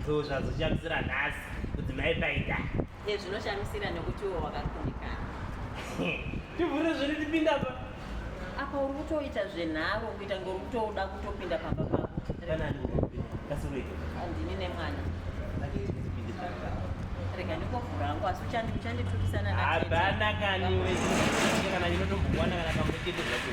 ndo zvazoshamisira nhasi kuti maipaita e zvinoshamisira nekuti iwo wakakundikana tivhure zviri tipinda pa apa uri kutoita zvenharo kuita ngori kutouda kutopinda pamba pako andini nemwana rega ndikovhura hangu asi uchanditukisana hapana kani kana ndinotombokuwana kana pamwe chete zvacho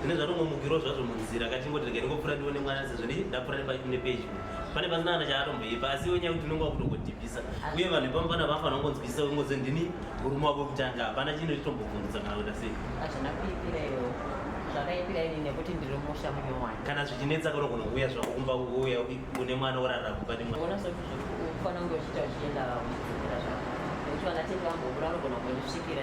Zvine zvatomomukirwa zvazvo munzira kachingoti regai ndingopfuura ndione mwana sezvo ndapfuura nepedyo pane pasina kana chaatomboipa asi iwe nyaya kuti unenge wakutongodhibhisa uye vanhu ipamo pana vafanira kungonzwisisa ungonzi ndini murume wako wekutanga hapana chino chitombobvunza kana kuita sei hazvina kuipira iwewo zvakaipira ini nekuti ndiri musha munyowani kana zvichinetsa kunogona kuuya zvako kumba uya une mwana orarira kumba nemwana unofanira kunge uchiita uchienda uchidzokera zvako nekuti vanatete vamboura unogona kundisvikira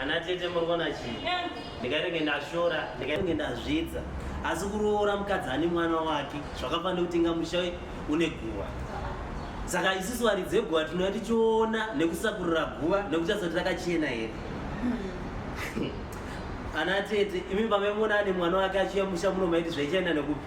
ana tete muri kuona chii ndikainenge ndashora ndikainenge ndazvidza asi kuroora mukadzi ane mwana wake zvakafanira kuti inga musha une guva saka isusu varidzi veguva tinouya tichiona nekusakurira guva nekuti tasati takachena here hmm. ana tete imi pamemona ane mwana wake achiya musha muno maiti zvaichaenda nekupi